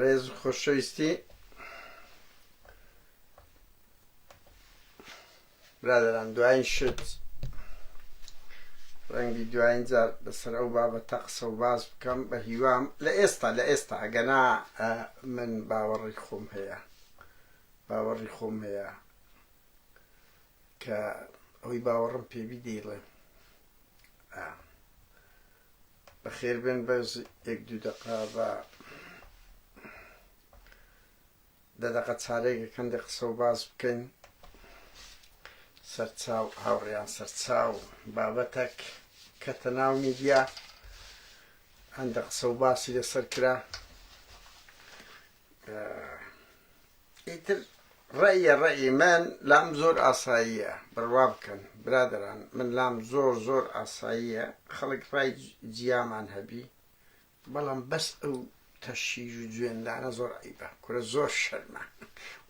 ڕێز خۆشەویستی برادران دوایین شت ڕەنگی دوایین جار لەسەر ئەو بابەتە قسە و باز بکەم بە هیوام لە ئێستا لە ئێستا ئەگەنا من باوەڕی خۆم هەیە باوەڕی خۆم هەیە کە ئەوی باوەڕم پێبی دەیڵێ بەخێر بێن بەس یەک دوو دەقا بە دە دەقە چارێکە کەندە قسە و باز بکەین سەرچاو هاوڕیان سەرچاو بابەتەک کە تەناو میدیا هەندە قسە و باسی لەسەر کرا ئیتر ڕەئیە ڕەئی من لام زۆر ئاساییە بڕوا بکەن برادەران من لام زۆر زۆر ئاساییە خەڵک ڕای جیامان هەبی بەڵام بەس ئەو تەشیژ و جوێندانە زۆر عیبە کورە زۆر شەرمە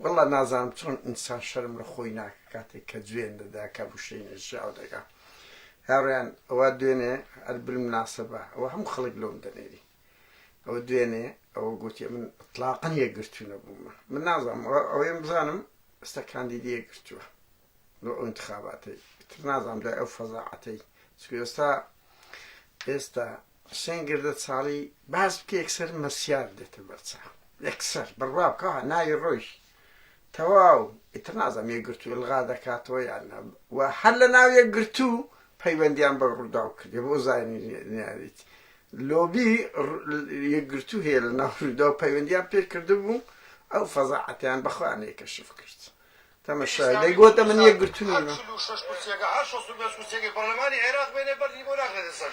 وەڵا نازانم چۆن ئینسان شەرم لە خۆی ناکە کاتێک کە جوێن دەدا کە بشەی نەژاو دەگا هاڕیان ئەوە دوێنێ ئەربلم ناسەبە ئەوە هەم خەڵک لۆم دەنێری ئەوە دوێنێ ئەوە گوتێ من تلاقن یەکگرتو نەبوومە من نازانم ئەوەیان بزانم ئستا کاندیدی یەکگرتووە لۆ ئەو انتخاباتەی تر نازانم لای ئەو فەزاعەتەی چکو ئێستا ئێستا حسێن گردە چاڵی باس بکە یەکسەر مەسیار دێتە بەرچاو یەکسەر بڕوا بکە ناوی ڕۆیشت تەواو ئیتر نازانم یەکگرتوو ئیلغا دەکاتەوە یان نا و هەر لە ناو یەکگرتوو پەیوەندیان بە ڕووداو کردی بۆ زانیاریت لۆبی یەکگرتوو هەیە لە ناو ڕوودا و پەیوەندیان پێ کردبوو ئەو فەزاعەتیان بەخۆیان یەکەشف کرد تەمەشا لێ گۆتە من یەکگرتوو نیم پەرلەمانی عێراق بێنێ بەردی بۆ ناخرێتە سەر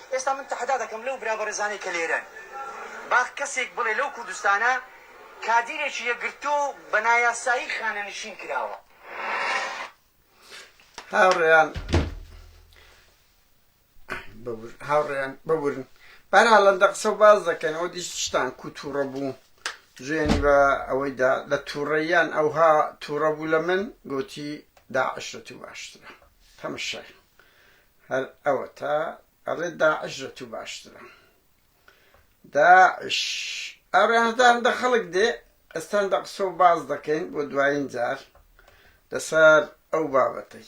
ئێستا من تەحەدا دەکەم لەو برا بەڕێزانەی کە لێرەن با کەسێک بڵێ لەو کوردستانە کادیرێکی یەکگرتوو بە نایاسایی خانەنشین کراوە؟ هاوڕێیان هاوڕێیان ببورن بەرا لەندە قسە و باز دەکەن ئەو دیش شتان کو تووڕە بوو جوێنی بە ئەوەیدا لە تووڕەیان ئەوها تووڕە بوو لە من گوتی داعشە تو باشترە تەمەشای هەر ئەوەتا ئەڵێ داعش لە تو باشترە داعش ئەڕێنەدان دە خەڵک دێ ئەستان دە قسە و باز دەکەین بۆ دوایین جار لەسەر ئەو بابەتەی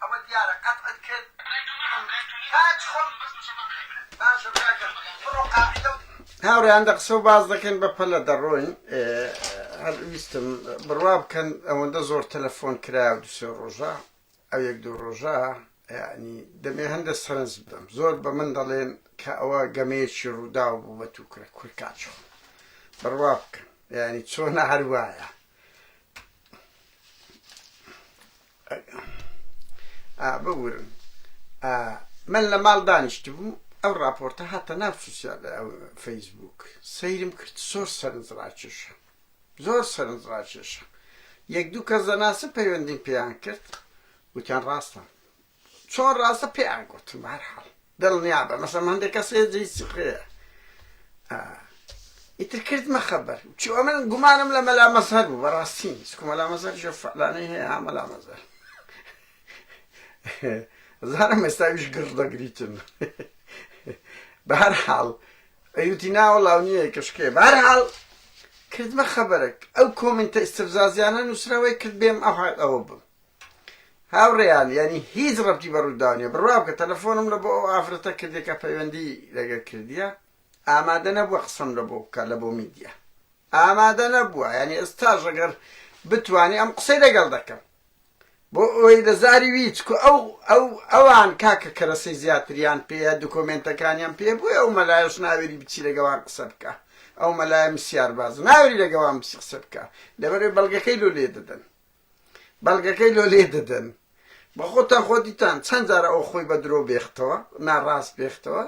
ئەوە دیارە قەتعت کرد کاک خۆم باشە براکەم بڕۆ قاعیدە و. هاوڕێیان دە قسە و باس دەکەین بە پەلە دەڕۆین هەر ویستم بڕوا بکەن ئەوەندە زۆر تەلەفۆن کرا و دوسێ ڕۆژە ئەو یەک دوو ڕۆژە ینی دەمێ هەندە سەرنج بدەم زۆر بە من دەڵێن کە ئەوە گەمەیەکی ڕووداو بوو بە تو کرە کورکچۆ بڕوا بکەن ینی چۆنە هەروایە ئا ببورن ئا من لە ماڵ دانیشتبووم ئەو ڕاپۆرتە هاتە ناو سوسیال فەیسبووک سەیرم کرد زۆر سەرنج ڕاکێشە زۆر سەرنج ڕاکێشە یەک دوو کەس دەناسە پەیوەندیم پێیان کرد وتیان ڕاستە چۆن ڕاستە پێیان گوتم بارحاڵ دڵنیابە مەسەلەن هەندێک کەس هەیە جێی سخرەیە ئا ئیتر کردمە خەبەر چی ئەمن گومانم لە مەلا مەزهەر بوو بەڕاستی نیست کو مەلا مەزهەر ژە فەلانەی هەیە ها مەلا مەزهەر زارم ئێستاویش گڕ دەگریتن بە هەر حاڵ ئەیوتی ناوە لاو نییە کەشکێ بە هەر حاڵ کردمە خەبەرێک ئەو کۆمنتە ئیسفزازیانە نووسراوەی کرد بێم ئەوحال ئەوە بم هاوڕێیان یانی هیچ ڕەبتی بە ڕووداو نیە بڕوا بکە تەلەفۆنم لە بۆ ئەو ئافرەتە کردیە کە پەیوەندی لەگەر کردیە ئامادە نەبووە قسەم لە بۆ بکە لە بۆ میدیا ئامادە نەبووە یعنی ئێستاش ئەگەر بتانی ئەم قسەی لەگەڵ دەکەم بۆ ئەوەی لە زاری ویچ کو ئەو ئەو ئەوان کاکە کەرەسەی زیاتریان پێە دوکۆمێنتەکانیان پێ بووی ئەو مەلایش ناوێری بچی لەگەوان قسە بکە ئەو مەلایە مسیار باز ناوێری لەگەوان بچی قسە بکە لەبەرێ بەڵگەکەی لۆ لێ دەدەن بەڵگەکەی لۆ لێ دەدەن بە خۆتان خۆ دیتان چەند جارە ئەو خۆی بە درۆ بێختەوە ناڕاست بێختەوە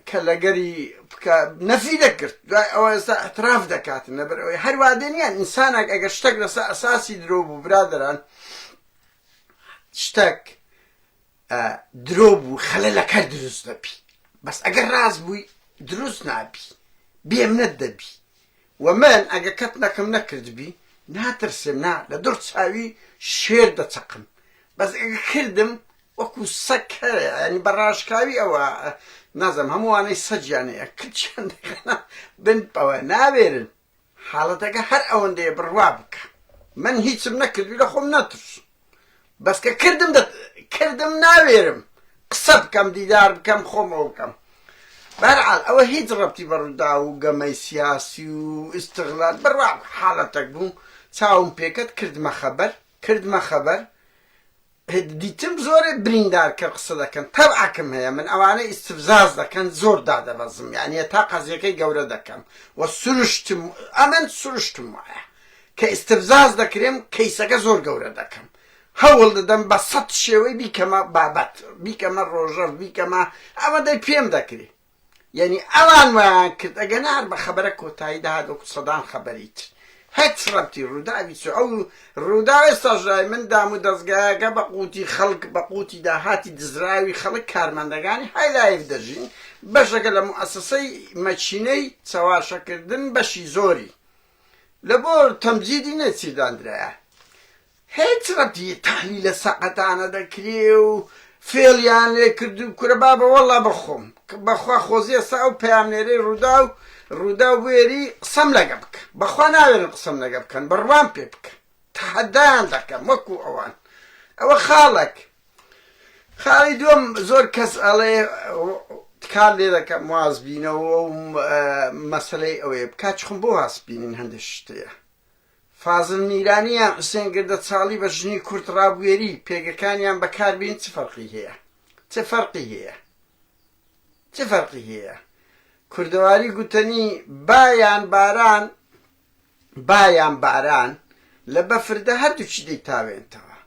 کە لەگەری نەفی دەکرد دوای ئەوە ئێستا ئەتراف دەکات نەبەر ئەوەی هەروادێن یان ئینسانێک ئەگەر شتێک لەسەر ئەساسی درۆ بوو برادران شتێک درۆ بوو خەلە لە کەر دروست دەبی بەس ئەگەر ڕاست بووی دروست نابی بێمنەت دەبی و من ئەگە کەتنەکم نەکردبی ناترسێم نا لە دڕ چاوی شێر دەچەقم بەس ئەگە کردم وەکو سەگ کەرە یانی بە ڕاشکاوی ئەوە نازم هەمووانەی سەجیانەیە کچیان دەخەنە بن ئەوە ناوێرن حاڵەتەکە هەر ئەوەندەیە بڕوا بکە من هیچم نەکردوی لە خۆم ناترسم بەس کە کردم دە کردم ناوێرم قسە بکەم دیدار بکەم خۆم ئەو بکەم بەرعال ئەوە هیچ ڕەبتی بە ڕووداو و گەمەی سیاسی و ئیستغلال بڕوا حاڵەتەک بوو چاوم پێکەت کردمە خەبەر کردمە خەبەر دیتم زۆرێ بریندار کە قسە دەکەن تەبعکم هەیە من ئەوانە ئیسفزاز دەکەن زۆر دادەبەزم یانە تا قەزیەکەی گەورە دەکەم و سروشتم ئەمن سروشتم وایە کە ئیستفزاز دەکرێم کەیسەکە زۆر گەورە دەکەم هەوڵ دەدەم بە سەد شێوەی بیکەمە بابەت بیکەمە ڕۆژەڤ بیکەمە ئەوەندەی پێم دەکرێ یعنی ئەوان وایان کرد ئەگەنا هەر بە خەبەرە کۆتایی دەهات وەکو سەدان خەبەری تر هەچ ڕەبتی ڕووداوی چ ئەو ڕووداوێ ساژای من دام و دەستگایەکە بە قوتی خەڵک بە قوتی داهاتی دزراوی خەڵک کارمەندەکانی هایلایف دەژین بەشەکە لە موئەسەسەی مەچینەی چەواشەکردن بەشی زۆری لە بۆ تەمجیدی نەچیر داندرایە هێچ رەتی تەحلیلە سەقەتانە دەکرێ و فێڵیان لێ کردو کورە بابە وەڵا بەخۆم بەخوا خۆزی ئێستا ئەو پەیامنێرەی رووداو رووداو بوێری قسەم لەگە بکە بەخوا ناوێرن قسەم لەگە بکەن بڕوام پێ بکەن تەحەدایان دەکەم وەکو ئەوان ئەوە خاڵێک خاڵی دووەم زۆر کەس ئەڵێ کار لێ دەکەم وازبینەوە و مەسلەی ئەوەیە بکات چخم بۆ هاسبینین هەندێک شتەیە فازل میرانیان حوسێن گردە چاڵی بە ژنی کورت ڕابوێری پێگەکانیان بەکاربین چ فەرقی هەیە چ فەرقی هەیە چ فەرقی هەیە کوردەواری گوتنی بایان باران با یان باران لە بەفردە هەردووکی دەیتاوێنتەوە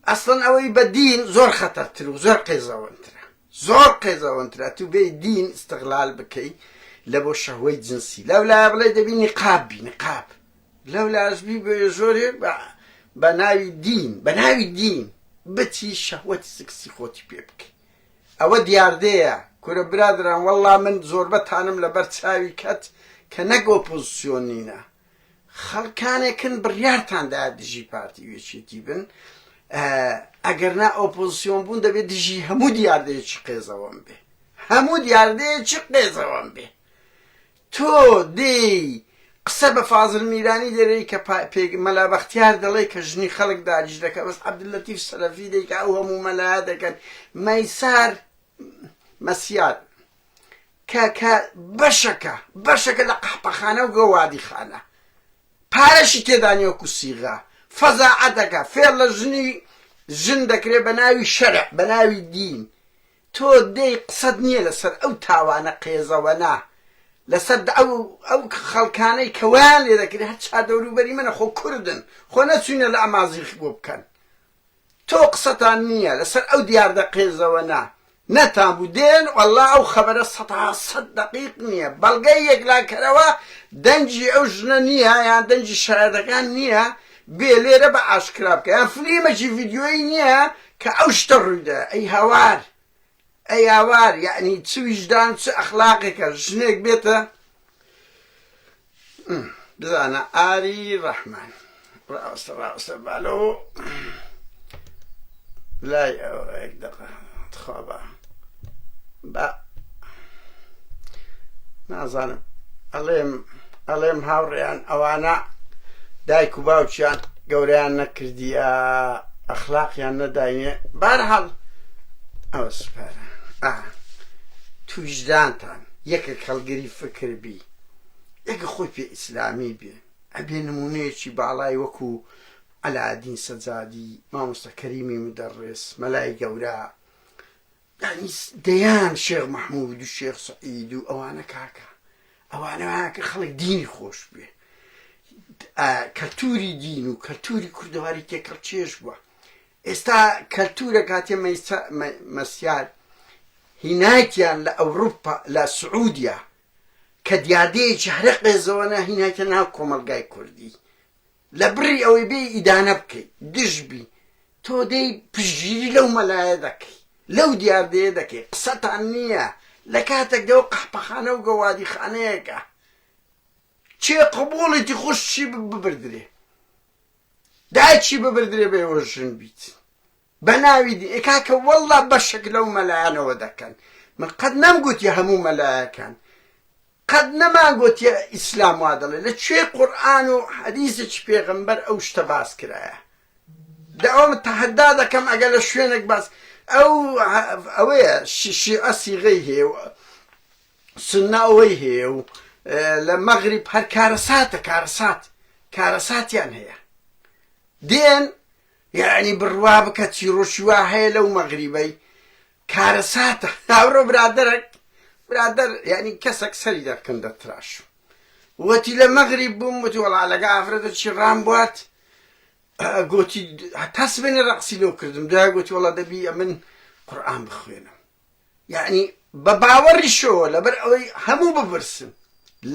ئەسڵەن ئەوەی بە دین زۆر خەتەرتر و زۆر قێزەوەنترە زۆر قێزەوەنترە تو بێی دین استغلال بکەی لە بۆ شەهوەی جنسی لەولایە بڵێ دەبی نقاب بی نقاب لەولاش بی بێ زۆرێ بە ناوی دین بە ناوی دین بچی شەهوەتی سکسی خۆتی پێ بکەی ئەوە دیاردەیە کورە برادەران وەڵڵا من زۆربە تانم لە بەر چاوی کەت کە نەک ئۆپۆزسیۆن نینە خەڵکانێکن بڕیارتان دا دژی پارتی وێچێتی بن ئەگەر نا ئۆپۆزسیۆن بوون دەبێت دژی هەموو دیاردەیەکی قێزەوەم بێ هەموو دیاردەیەکی قێزەوەم بێ تۆ دێی قسە بە فازل میرانی دەرێی کە پێ مەلا بەختیار دەڵێ کە ژنی خەڵک داگیش دەکە بەس عەبدولەتیف سەلەفی دێی کە ئەو هەموو مەلایە دەکەن مەیسار مەسیار کە کە بەشەکە بەشەکە لە قەحپەخانە و گەوادی خانە پارەشی تێدانیۆک و سیغا فەزاعەتەکە فێڵ لە ژنی ژن دەکرێت بە ناوی شەرع بە ناوی دین تۆ دێی قسەت نیە لەسەر ئەو تاوانە قێزەوەنە لەسەر ئەو ئەو خەڵکانەی کە وایان لێ دەکرێ هەر چار دەورو بەری منە خۆ کوردن خۆ نەچوینە لە ئەمازیغ بۆ بکەن تۆ قسەتان نیە لەسەر ئەو دیاردە قێزەوەنە نەتان بوو دێن وەڵا ئەو خەبەرە سەتا سەت دەقیق نیە بەڵگەی یەکلاکەرەوە دەنگی ئەو ژنە نیە یان دەنگی شایەتەکان نیە بێ لێرە بە ئاشکرا بکە یان فلیمەکی ڤیدیۆیی نیە کە ئەو شتە ڕویدا ئەی هاوار ئەی ئاوار یەعنی چ ویژدان و چ ئەخلاقێکە ژنێک بێتە بزانە ئاری ڕەحمان ڕاستە ڕاستە بالۆ لای ئەوەێک دەقە خوابە بە نازانم ئەڵێم ئەڵێم هاوڕێیان ئەوانە دایک و باوچیان گەوریان نەکردیە ئەخلاقیان نەداینێ بارحاڵ ئەو سپارە تویشدانتان یەکە کەڵگەری فکر بی یەکە خۆی پێ ئیسلامی بێ ئەبێ نمونەیەکی باڵای وەکو ئەلادین سەجادی مامۆستا کەریمی مدەڕێس مەلای گەورە یانی دەیان شێخ مححمود و شێخ سعید و ئەوانە کاکە ئەوانەکە خەڵک دینی خۆش بێ کەلتوری دین و کەلتوری کوردەواری تێکەڵ چێش بووە ئێستا کەلتورە کاتێ مەسیار هینایتیان لە ئەوروپا لە سعودیا کە دیاردەیەکی هەرە قێزەوەە هینایتە ناو کۆمەلگای کوردی لە بڕی ئەوەی بێی ئیدانە بکەی دژ بی تۆ دێی پشتگیری لەو مەلایە دەکەی لەو دیاردەیە دەکەی قسەتان نییە لە کاتێکدا ئەو قەحپەخانە و گەوادیخانەیەکە چێ قبوڵێتی خوشکی ببردرێ دایکی ببردرێ بە ئێوە ژن بیت بەناوی دین ئێ کاکە واللە بەشێک لەو مەلایانەوە دەکەن من قەت نەم گوتیە هەموو مەلایەکان قەت نەمان گوتیە ئیسلام وا دەڵێ لە کوێ قورئان و حەدیسێکی پێغەمبەر ئەو شتە باس کرایە داوام تەحەدا دەکەم ئەگەر لە شوێنێک باس ئەو ئەوەیە شیعە سیغەی هەیە و سنە ئەوەی هەیە و لە مەغریب هەر کارەساتە کارەسات کارەساتیان هەیە دێن یەعنی بڕوا بکە چیڕۆکی وا هەیە لەو مەغریبەی کارەساتە ئەمڕۆ برادەرەک برادەر یەعنی کەسەک سەری دەکن دەتراشم وەتی لە مەغریب بووم وەتی وەڵا لەگە ئافرەتە چی ڕام بوارد گۆتی هەتا سبێنێ ڕەقسی لۆ کردم دوای گۆتی وەڵا دەبی ئەمن قورئان بخوێنم یەعنی بە باوەڕیشەوە لەبەر ئەوەی هەموو بپرسن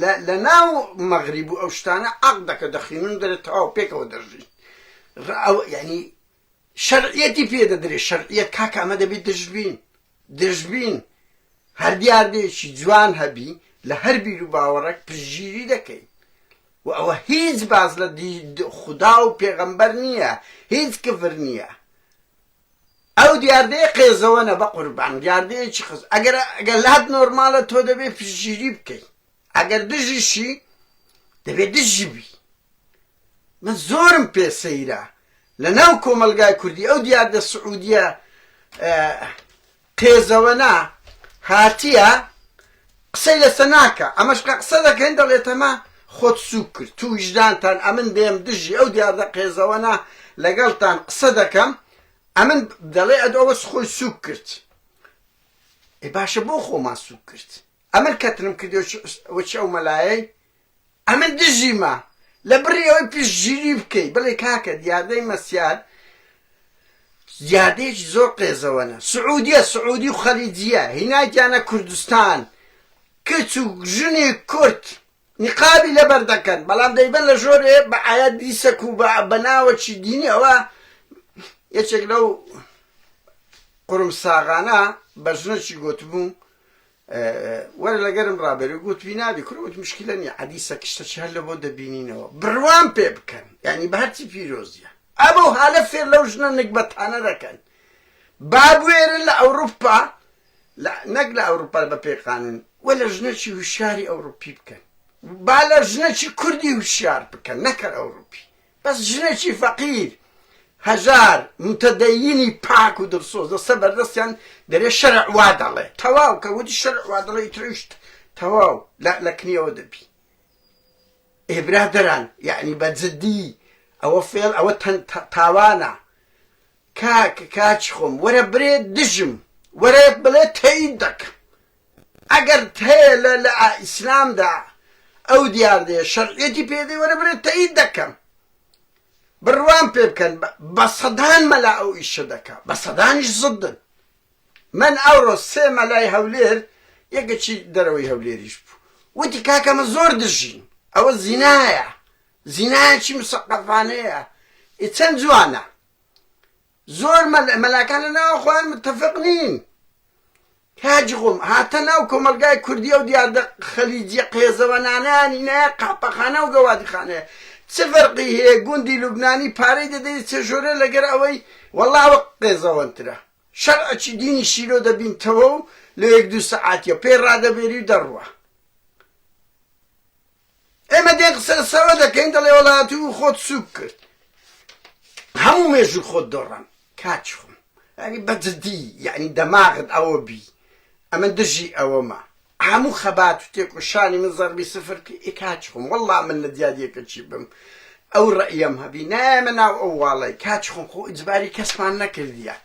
لە لە ناو مەغریب و ئەو شتانە عەق دەکە دەخینن دەرێت تەواو پێکەوە دەژین ڕەو یەعنی شەرعیەتی پێ دەدرێت شەرعیەت کاکە ئەمە دەبێت دژبین دژبین هەر دیاردەیەکی جوان هەبی لە هەر بیر و باوەڕێک پشگیری دەکەین و ئەوە هیچ باز لە دی خودا و پێغەمبەر نییە هیچ کفر نییە ئەو دیاردەیە قێزەوەنە بەقوربان دیاردەیەکی قز ئەگەر ئەگەر لات نۆرمالە تۆ دەبێ پشگیری بکەی ئەگەر دژیشی دەبێ دژی بی من زۆرم پێ سەیرە لە ناو کۆمەلگای کوردی ئەو دیاردە سعودیە قێزەوەنە هاتیە قسەی لەسە ناکا ئەمەش قە قسە دەکەن دەڵێتەمە خۆت سوک کرد تو ویژدانتان ئەمن بێم دژی ئەو دیاردە قێزەوەنە لەگەڵتان قسە دەکەم ئەمن دەڵێ ئەد ئەوەس خۆی سوک کرد ئێ باشە بۆ خۆمان سوک کرد ئەمن کەترم کردی وچ ئەو مەلایەی ئەمن دژیمە، لە بڕی ئەوەی پشتگیری بکەی بڵێی کاکە دیاردەی مەسیار دیاردەیەکی زۆر قێزەوەنە، سعودیە، سعودی و خەلیجیە هینایتیانە کوردستان، کچ و ژنی کورد نیقابی لەبەر دەکەن بەڵام دەیبەن لە ژۆرێ بە ئایەت دیسک و بە ناوەکی دینی ئەوە یەکێک لەو قورمساغانە بە ژنەکی گۆتبوو وەرە لەگەرم ڕابێرە گوت وی نابی کورە وت مشکلە نیە عەدی سەکشتە چ هەر لە بۆ دەبینینەوە بڕوام پێ بکەن یعنی بە هەرچی پیرۆزیە ئەبەو حالە فێر لەو ژنە نگبەتانە دەکەن بابوێرن لە ئەوروپا نەک لە ئەوروپا بە پێ قانون وە لە ژنەچی هوشیاری ئەوروپی بکەن با لە ژنەچی کوردی هوشیار بکەن نەکەر ئەوروپی بەس ژنێکی فەقیر هەژار موتەدەیینی پاک و دڵسۆز دەستە بەردەستیان دەرێ شەرع وا دەڵێ تەواو کە وتی شەرع وا دەڵێ ئیتر ئەویش تەواو لە لە کنیەوە دەبی ئێ برادەران یعنی بە جدی ئەوە فێڵ ئەوە تەن تا- تاوانە کاک کاچ خۆم وەرە برێ دژم وەرە بڵێ تەیید دەکەم ئەگەر هەیە لە لە ئیسلامدا ئەو دیاردەیە شەرعیەتی پێدەی وەرە برێ تەیید دەکەم بڕوام پێ بکەن بە سەدان مەلا ئەو ئیشە دەکا بە سەدانیش زدن من ئەوڕۆ سێ مەلای هەولێر یەکەچی دەرەوەی هەولێریش بوو وتی کاکەمە زۆر دژین ئەوە زینایە زینایەکی مسەقەفانەیە ئی چەند جوانە زۆر مەلا مەلاکان لە ناوە خۆیان متفق نین کاجی خۆم هاتە ناو کۆمەلگای کوردی و دیاردە خەلیجیە قێزەوەنانانی نایە قاپەخانە و گەوادیخانەیە چ فەرقی هەیە گوندی لوبنانی پارەی دەدەی چ ژۆرە لەگەر ئەوەی وەڵاوە قێزەوەنترە شەرعەکی دینی شیرۆ دەبینتەوە و لە یەک دوو سەعاتیە پێی ڕادەبێری و دەڕوە ئێمە دێن قسە لەسەرەوە دەکەین دەڵێ وەڵا تو خۆت سوک کرد هەموو مێژوو خۆت دۆڕان کاچ خۆم ینی بەجددی یعنی دەماغت ئەوە بی ئەمە دژی ئەوەمە هەموو خەبات و تێکۆشانی من زەربی سفر ئی کاچ خۆم وەڵا من لە دیادیەکە چی بم ئەو ڕئەم هەبی نایەمە ناو ئەو واڵی کاچ خۆم خۆ ئجباری کەسمان نەکردیە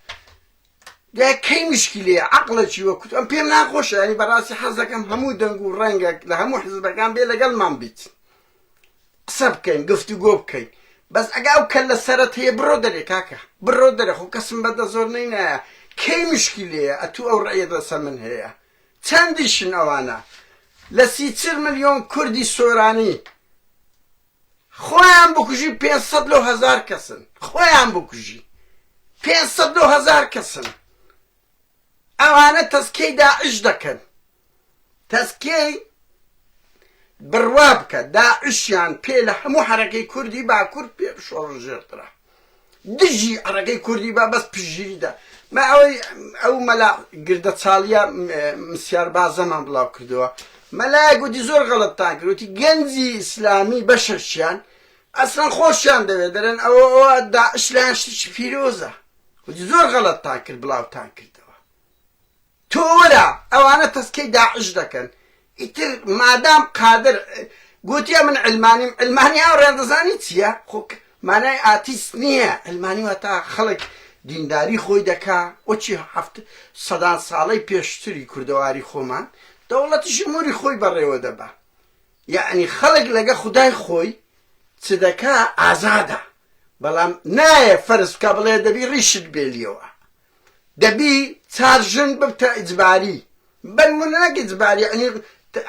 دەی کەی مشکیلەیە عەقڵەکی وەک تو ئەم پێم ناخۆشە یانی بەڕاستی حەز دەکەم هەموو دەنگ و ڕەنگەک لە هەموو حزبەکان بێ لەگەڵمان بیت قسە بکەین گفتوگۆ بکەین بەس ئەگا ئەو کەلە سەرت هەیە بڕۆ دەرێ کاکە بڕۆ دەرێ خۆ کەسم بەدە زۆر نەینایە کەی مشکیلەیە ئەتوو ئەو ڕێیە لەسەر من هەیە چەندیشن ئەوانە لە سیچل ملیۆن کوردی سۆرانی خۆیان بکوژی پێنج سەد لەو هەزار کەسن خۆیان بکوژی پێنج سەد لەو هەزار کەسن ئەوانە تەسکیەی داعش دەکەن تەسکیەی بڕوا بکە داعشیان پێ لە هەموو حەرەکەی کوردی باکورد پێ شۆڕژێترا دژی ڕەگەی کوردی با بەس پشتگیری دا ما ئەوەی ئەو مەلا گردە چاڵیە مسیار بازەمان بڵاو کردەوە مەلایە گوتی زۆر غەڵەتتان کردوتی گەنجی ئیسلامی بەشەشیان ئەسلەن خۆشیان دەوێت دەرێن ئەوە ئەوە داعش لایان شتێکی پیرۆزە وتی زۆر غەڵەتتان کرد بڵاوتان کردەوە تۆ وەرە ئەوانە تەسکەی داعش دەکەن ئیتر مادام قادر گۆتیە من علمانیم علمانی ئاوڕیان دەزانی چییە خۆک مانای ئاتیست نییە علمانی واتا خەڵک دینداری خۆی دەکا وەچی هەفت سەدان ساڵەی پێشتری کوردەواری خۆمان دەوڵەتی ژموری خۆی بەڕێوە دەبا یعنی خەڵک لەگە خدای خۆی چ دەکا ئازادە بەڵام نایە فەرز بکە بڵێ دەبی ڕیشت بێلیەوە دەبی چار ژن ببتە ئیجباری بەنمونە نەک ئیجباری یەعنی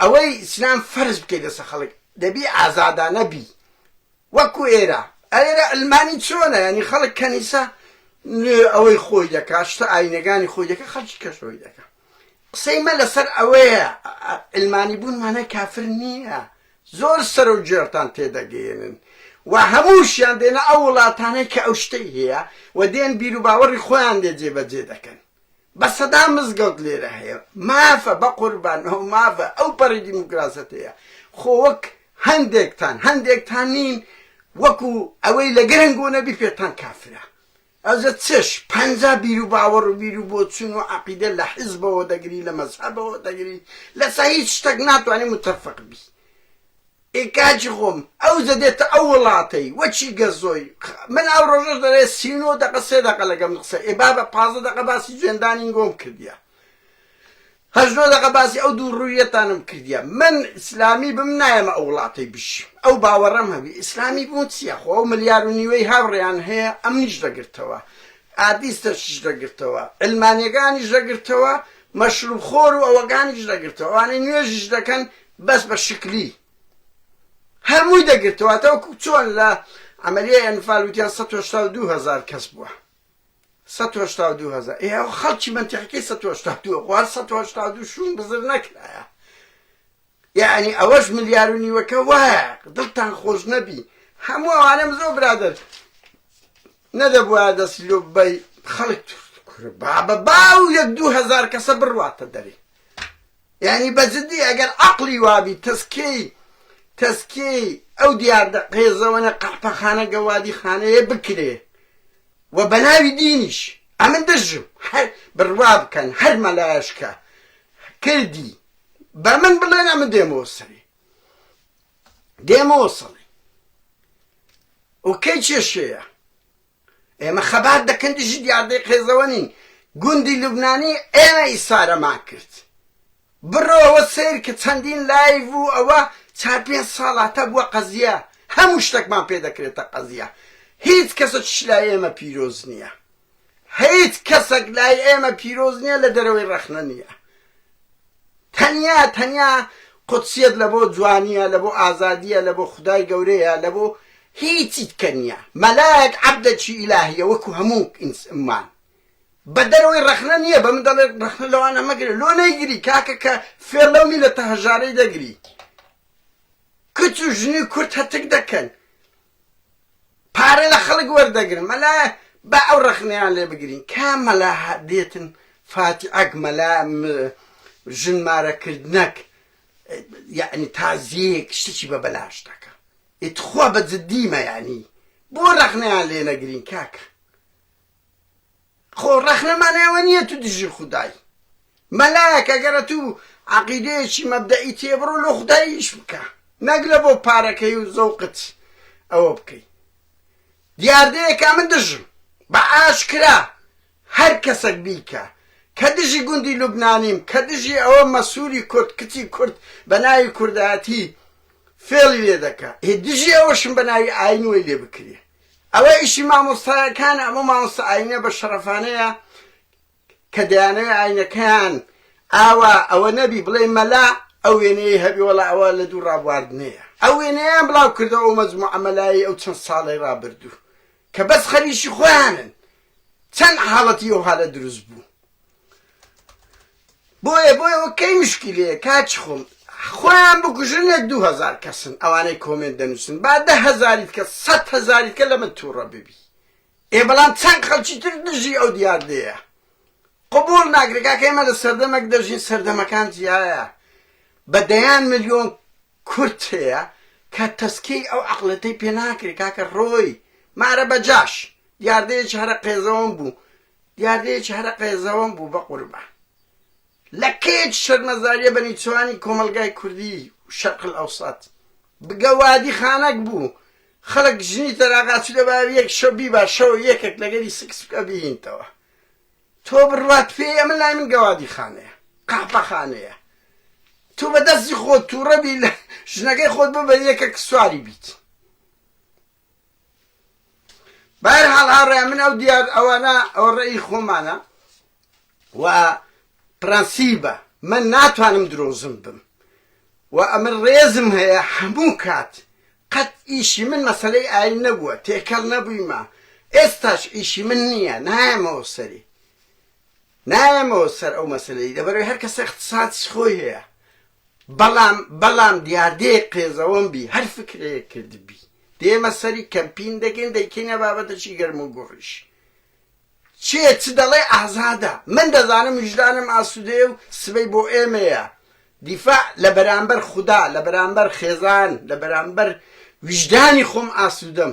ئەوەی ئیسلام فەرز بکەی لەسە خەڵک دەبی ئازادانە بی وەکو ئێرە ئەێرە ئەلمانی چۆنە یعنی خەڵک کەنیسە ئەوەی خۆی دەکا شتە ئاینەکانی خۆی دەکە خەڵکی کەشەوەی دەکە قسەی مە لەسەر ئەوەیە علمانی بوون مانای کافر نییە زۆر سەر و جێرتان تێدەگەیەنن و هەمووشیان دێنە ئەو وڵاتانەی کە ئەو شتەی هەیە و دێن بیر و باوەڕی خۆیان لێ جێبەجێ دەکەن بە سەدا مزگەوت لێرە هەیە مافە بە قوربان ئەو مافە ئەو پەڕی دیموکراسەت هەیە خۆ وەک هەندێکتان هەندێکتان نین وەکو ئەوەی لە گرنگ و نەبی پێتان کافرە ئەزە چش پەنجا بیرو باوەڕ و بیرو بۆچون و عەقیدە لە حیزبەوە دەگری لە مەزهەبەوە دەگری لەسە هیچ شتەک ناتوانی متەفق بی ئێ کاجی خۆم ئەو زەدێتە ئەو وڵاتەی وەچی گەزۆی من ئەو ڕۆژەش دەرێ سی و نۆ دەقە سێ دەقە لەگەم قسە ئێ بابە پازە دەقە باسی جوێندانین گۆم کردیە هەژدە دەقە باسی ئەو دوو ڕوویەتانم کردیە من ئیسلامی بم نایەمە ئەو وڵاتەی بژیم ئەو باوەڕەم هەبی ئیسلامی بوون چیە خۆ ئەو ملیار و نیوەی هاوڕێیان هەیە ئەمنیش دەگرتەوە ئادیستەشیش دەگرتەوە علمانیەکانیش دەگرتەوە مەشروب خۆر و ئەوەکانیش دەگرتەوە ئەوانەی نوێژیش دەکەن بەس بە شکلی هەمووی دەگرتەوە تاوەکو چۆن لە عملیە ئەنفال وتیان 1970 هزار کەس بووە سەد و هەشتا و دوو هەزار ئێ ئەوە خەڵکی مەنتیقەکەی سەد و هەشتا و دووە خۆ هەر سەد و هەشتا و دوو شوون بزر نەکرایە یعنی ئەوەش ملیار و نیوەکە وایە دڵتان خۆش نەبی هەموو ئەوانە مزۆ برادر نەدەبووە دەستی لۆ بەی خەڵک بابە باو یەک دوو هەزار کەسە بڕواتە دەری یعنی بەجددی ئەگەر عقلی وابی تەسکەی تەسکی ئەو دیاردە قێزەوەە قەحپەخانە گەوادی خانەیە بکرێ وە بەناوی دینیش ئەمن دژم هەر بروا بکەن هەر مەلایش کە کردی بەمن بڵێن ئەمن دێمەوە سەری دێمەوە سەڵی و کەی کێشەیە ئێمە خەبات دەکەن دژی دیاردەی قێزەوە نین گوندی لوبنانی ئێمە ئیسارەمان کرد بڕۆوە سەیرکە چەندین لایڤ و ئەوە چار پێنج ساڵاتە بوە قەزیە هەمو شتەکمان پێ دەکرێتە قەزیە هیچ کەسەکیش لای ئێمە پیرۆز نیە هیچ کەسەک لای ئێمە پیرۆز نیە لە دەرەوەی ڕەخنە نیە تەنیا تەنیا قودسیەت لە بۆ جوانیە لە بۆ ئازادیە لە بۆ خودای گەورەیە لە بۆ هیچی دیکە نیە مەلایەک عەبدەکی ئیلاهیە وەکو هەمو ئینس مان. بە دەرەوەی ڕەخنە نیە بە من دەڵێ ڕەخنە لەوانە مەگرە لۆ نەیگری کاکە کە فێڵ لەو میلەتە هەژارەی دەگری کچ و ژنی کورد هەتک دەکەن پارە لە خەڵک وەردەگرن مەلا با ئەو ڕەخنەیان لێ بگرین کا مەلا دێتن فاتی ئەک مەلا ژن مارەکردنەک یعنی تازیەک شتێکی بە بەلاش دەکە ئیتخوا بە جدیمە یعنی بۆ ڕەخنەیان لێ نەگرین کاکە خۆ ڕەخنەمان ئێوە نییە تو دژی خودای مەلایەک ئەگەر ئەتو عەقیدەیەکی مەبدەئی تێ بڕۆ لۆ خودای ئیش بکە نەک لە بۆ پارەکەی و زەوقت ئەوە بکەی دیاردەیەکە من دژم بە ئاشکرا هەر کەسەک بیکە کە دژی گوندی لوبنانیم کە دژی ئەوە مەسوری کورد کچی کورد بە ناوی کوردایەتی فێڵی لێ دەکا هی دژی ئەوەشم بە ناوی ئاین وەی لێ بکرێ ئەوە ئیشی مامۆستایەکانە ئەمە مامۆستا ئاینە بە شەڕەفانەیە کە دەیانەوێ ئاینەکەیان ئاوا ئەوە نەبی بڵێ مەلا ئەو وێنەیە هەبی وەڵا ئەوە لە دوو ڕابواردنەیە ئەو وێنەیان بڵاو کردەوە ئەو مەجموعە مەلایی ئەو چەند ساڵەی ڕابردوو کە بەس خەریکی خۆیانن چەند حاڵەتی ئەو حالە دروست بوو بۆیە بۆیە وە کەی مشکیلەیە کاکی خۆم خۆیان بکوژن یەک دوو هەزار کەسن ئەوانەی کۆمێنت دەنوسن با دە هەزاریت کە سەد هەزاریت کە لەمە توڕە ببی ئێ بەڵام چەند خەڵکی تر دژی ئەو دیاردەیە قبول ناکرێ کاکە ئێمە لە سەردەمەک دەژین سەردەمەکان جیایە بە دەیان ملیۆن کورد هەیە کە تەسکیەی ئەو عقلەتەی پێ ناکرێ کاکە ڕۆی مارە بەجاش دیاردەیەکی هەرە قێزەوەم بوو دیاردەیەکی هەرە قێزەوەن بوو بەقوربان لە کەیەکی شەرمەزاریە بە نیچوانی کۆمەلگای کوردی و شەرق الاوسط بگە وادی خانەک بوو خەلک ژنی تەراغاچی لە باوی یەک شەو بیبا شەو یەکەک لەگەری سکس بکە بیهینتەوە تۆ بڕوات پێی ئەمە لای من گەوادی خانەیە قەحپە خانەیە تو بە دەستی خۆت تووڕە بی لە ژنەکەی خۆت ببە یەکەک سواری بیت بەهەر حاڵ هاوڕێیان من ئەو دیار ئەوانە ئەوە ڕێی خۆمانە و پرەنسیبە من ناتوانم درۆزم بم و ئەمە ڕێزم هەیە هەموو کات قەت ئیشی من مەسلەی ئاین نەبووە تێکەڵ نەبوویمە ئێستاش ئیشی من نییە نایەمەوە سەری نایەمەوە سەر ئەو مەسەلەی لەبەرەوەی هەر کەسە اختصاصی خۆی هەیە بەڵام بەڵام دیاردەیەک قێزەوەن بی هەر فکرەیەک کردبی دێمە سەری کەمپین دەکەین دەیکەینە بابەتەشی گەرم و گوڕیش چێ چ دەڵێ ئازادە من دەزانم ویژدانم ئاسوودەیە و سبەی بۆ ئێمەیە دیفاع لە بەرامبەر خودا لە بەرامبەر خێزان لە بەرامبەر ویژدانی خۆم ئاسوودەم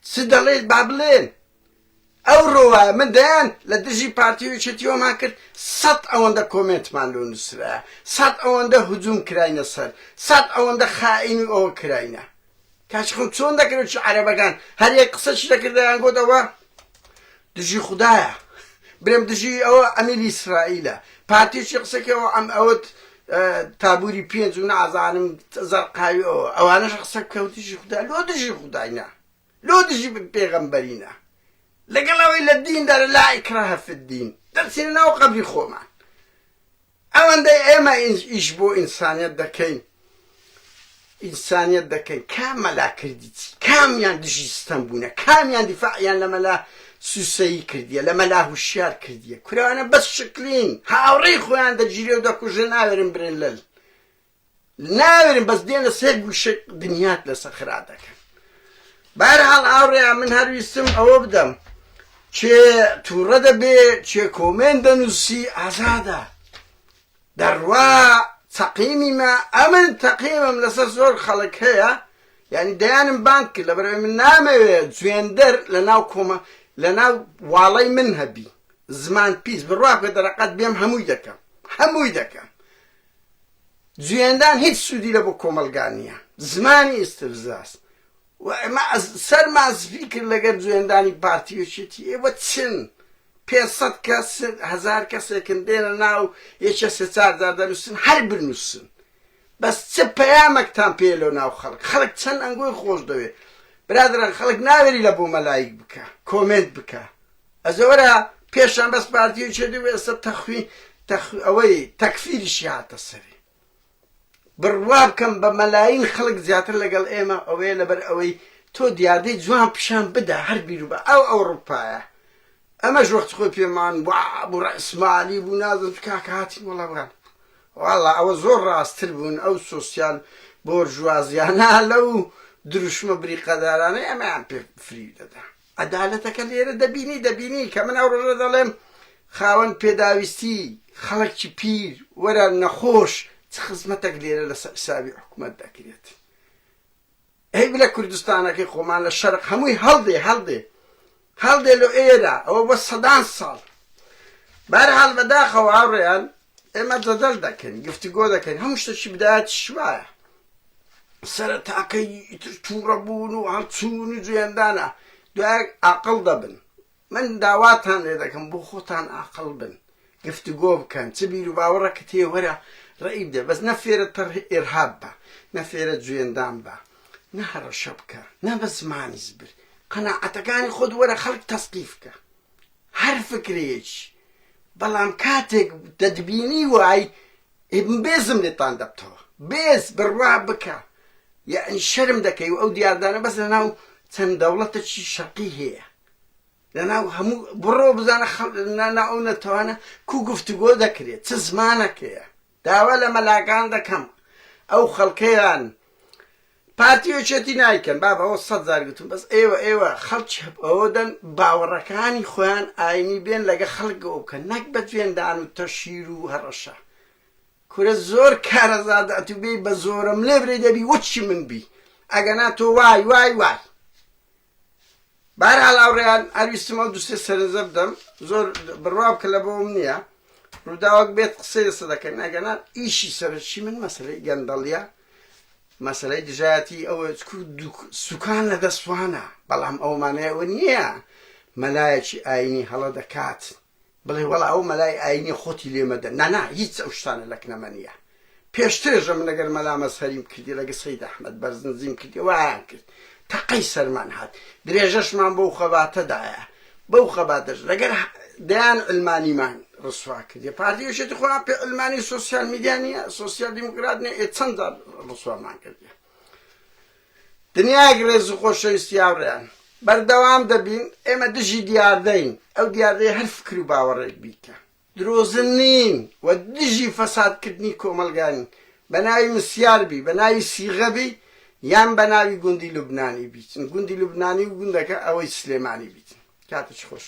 چ دەڵێت با بڵێن ئەوڕۆ وایە من دەیان لە دژی پارتی و یەکێتی وەمان کرد سەد ئەوەندە کۆمێنتمان لۆ نووسرایە سەد ئەوەندە هجووم کراینە سەر سەد ئەوەندە خائین و ئەوە کراینە کاچ خەم چۆن دەکرێت چ عەرەبەکان هەر یەک قسەشی دەکردیان گوت ئەوە دژی خوددایە برێم دژی ئەوە ئەمیر ئیسرائیلە پارتیشی قسەکەەوە ئەم ئەوت تابوری پێنج و نازانم زەرقاوی ئەوە ئەوانەش قسە کەوتیشی خوددا لۆ دژی خودداینا لۆ دژی پێغەمبەرینە لەگەڵ ئەوەی لە دیندا لا ئیکراهە فی الدین دەرچینە ناو قەبری خۆمان ئەوەندەی ئێمە ئیش بۆ ئینسانیت دەکەین ئینسانیت دەکەین کام مەلا کردی چی کامیان دژی ستەم بوونە کامیان دیفاعیان لە مەلا سوسەیی کردیە لە مەلا هوشیار کردیە کورانە بەس شکلین هاوڕێی خۆیان دەگیرێ و دەکوژن ئاوێرن برێن لەل ناوێرن بەس دێنە سەر گوشک دنیات لەسەر خرا دەکەن بارحاڵ ئاوڕێ من هەرویستم ئەوە بدەم چێ تووڕە دەبێ چێ کۆمێن دەنووسی ئازادە دەڕوا تەقیمیمە ئەمن تەقیمم لەسەر زۆر خەڵک هەیە یعنی دەیانم بانک لە بەرەوەی من نامەوێت جوێندەر لە ناو کۆمە لە ناو واڵی من هەبی زمان پیس بڕواکە دەرەقەت بێم هەمووی دەکەم هەمووی دەکەم جوێندان هیچ سودی لە بۆ کۆمەلگا نیە زمانی استفزاز و ئمە ئەز سەرمان سپی کرد لەگەر جوێندانی پارتی و چێتی ئێوە چن پێ سەد کەس هەزار کەسێکن دێنە ناو یەکێ سێ چار جار دەنووسن هەر بنووسن بەس چ پەیامەکتان پێ لۆ ناو خەڵک خەڵک چەند ئەنگۆی خۆش دەوێ برادران خەڵک ناوێری لە بۆ مەلایک بکە کۆمێنت بکە ئەزێ وەرە پێشان بەس پارتیی چێدی و ئێستا تەخوی تەخوی ئەوەی تەکفیریشی هاتە سەری بڕوا بکەم بە مەلایین خەڵک زیاتر لەگەڵ ئێمە ئەوەیە لەبەر ئەوەی تۆ دیاردەی جوان پیشان بدا هەر بیرو بە ئەو ئەوڕوپایە ئەمەش وەخت خۆی پێمان بوو ڕئسمالی بوو نازم کاکە هاتین وڵاوان واڵا ئەوە زۆر ڕاستتر بوون ئەو سوسیال بۆرژوازیانە لەو دروشمە بریقەدارانەی ئەمەیان پێ فریو دەدا عەدالەتەکە لێرە دەبینی، دەبینی کە من ئەو ڕۆژە دەڵێم خاوەن پێداویستی، خەڵکی پیر، وەرە نەخۆش، چ خزمەتەک لێرە لەسەر حسابی حکومەت دەکرێت؟ ئەی بلە کوردستانەکەی خۆمان لە شەرق هەمووی هەڵدێ هەڵدێ هەڵدێ لۆ ئێرە ئەوە بۆ سەدان ساڵ بەرحاڵ بەداخەوە هاوڕێیان ئێمە جەدەل دەکەین گفتگۆ دەکەین هەموو شتەکی بدایەت شوایە سەرەتاکەی ئیتر تووڕەبوون و هەڵچوون و جوێندانە دوایەک ئاقل دەبن من داواتان لێ دەکەم بۆ خۆتان ئاقل بن گفتگۆ بکەن چ بیر و باوەڕەکە تێوەرە ڕێی بدە بەس نە فێرە تەڕ ئێرهاب بە نە فێرە جوێندان بە نە هەڕەشە بکە نە بە زمانی زبر قەناعەتەکانی خۆت وەرە خەڵک تەسقیف بکە هەر فکرەیەکی بەڵام کاتێک دەتبینی وای بێزم لێتان دەبتەوە بێز بڕوا بکە یەعنی شەرم دەکەی و ئەو دیاردانە بەس لەناو چەند دەوڵەتەکی شەقی هەیە لەناو هەموو بڕۆ بزانە خەڵ نانا ئەو نەتەوانە کو گفتوگۆ دەکرێت چ زمانەکەیە داوا لە مەلاکان دەکەم ئەو خەڵکەیان پارتی وچێتی نایکەن باب ئەوە سەد زار گوتم بەس ئێوە ئێوە خەڵکی ئەوە دەن باوەڕەکانی خۆیان ئاینی بێن لەگە خەڵک ئەو بکەن نەک بە جوێندان و تەشیر و هەڕەشە کورە زۆر کارەزاد ئەتوبێی بە زۆرم لێ برێ دەبی وەچی من بی ئەگەنا تۆ وای وای وای بەهەرحاڵ ئاوڕیان هەر ویستم ئەو دوو سێ سەرنجە بدەم زۆر بڕوا بکە لە بۆم نییە ڕووداوەک بێت قسەی لەسە دەکەین ئەگەنا ئیشی سەرچی من مەسلەی گەندەڵیە مەسلەی دژایەتی ئەوە سوکان لە دەستوانە بەڵام ئەومانەیە ئەوە نییە مەلایەکی ئاینی هەڵە دەکات بڵێ وەڵا ئەو مەلای ئاینیە خۆتی لێ مەدە نانا هیچ ئەو شتانە لە کنەمە نیە پێشترێژە من لەگەر مەلا مەزهەریم کردی لەگە سەید ئەحمەد بەرزنزیم کردی وایان کرد تەقەی سەرمان هات درێژەشمان بەو خەباتەدایە بەو خەباتەش لەگەر دەیان علمانیمان ڕسوا کردی پارتی وشێتی خۆیان پێ علمانی سوسیال میدیانە سوسیال دیموکرات نێ چەندە ڕسوامان کردی دنیایەک ڕێز و خۆشەویستی هاوڕێیان، بەردەوام دەبین، ئێمە دژی دیاردەین، ئەو دیاردەیە هەر فکر و باوەڕێک بیت کە درۆزن نین و دژی فەسادکردنی کۆمەڵگاین، بە ناوی مسیار بی، بە ناوی سیغە بی یان بە ناوی گوندی لوبنانی بیت، گوندی لوبنانی و گوندەکە ئەوەی سلێمانی بیت. کاتت خۆش.